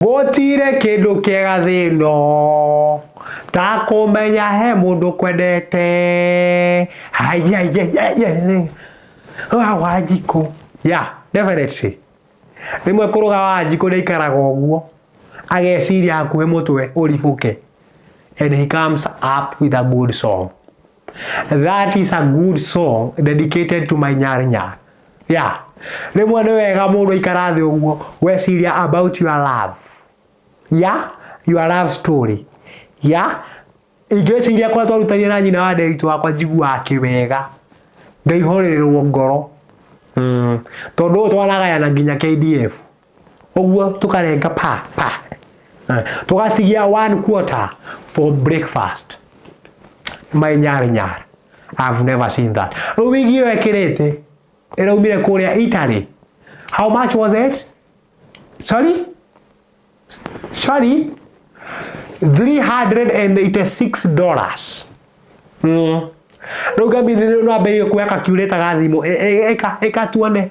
Gũtire kĩndũ kĩega thĩ ĩno ta kũmenya he mũndũ kwendete. Wanjikũ, yeah definitely. Rĩmwe kũrũga Wanjikũ ndaikaraga ũguo, ageciria hakuhĩ mũtwe ũribũke and he comes up with a good song. That is a good song dedicated to my nyar nyar. Yeah. Rĩmwe nĩ wega mũndũ aikara thĩ ũguo weciria about your love. Yeah, your love story. Yeah. Ingĩciria kũrĩa twarutania na nyina wa ndĩritũ wakwa njiguaga kĩwega. Ngaihorerwo ngoro. Mm. Tondũ ũyũ twanagayana nginya KDF. ũguo tũkarenga pa pa Eh, tũgatigia one quarter for breakfast my nyar nyar I've never seen that rĩu wigi ĩyo ekĩrĩte ĩraumire kũrĩa Italy how much was it sorry sorry 386 dollars mm. rĩu ngambithirĩu no ambĩrĩrie kuoya kakiurĩta ga thimũ Ĩ- ĩ- ĩka ĩka tuone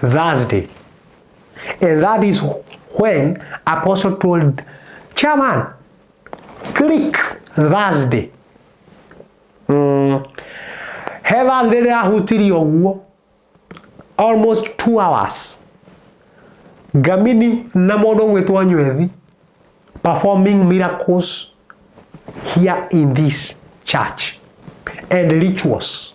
Thursday. And that is when apostle told chairman, click Thursday. Mm. He Thursday ndĩrahutirie ũguo almost two hours ngamini na mũndũ ũgwĩtwo nywethi performing miracles here in this church and rituals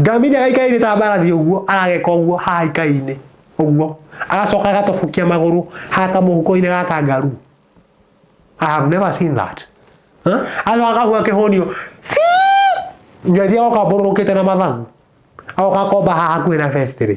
Ngamini agaikainĩ ta mbarathi ũguo arageka ũguo haha ikai-inĩ ũguo agacoka agatobokia magũrũ haha kamũhuko-inĩ ga kangaru I have never seen that Huh? agacoka akahua kĩhũnio njothi agoka mbũrũrũkĩte na mathagu agoka akomba haha hakuhĩ na festirĩ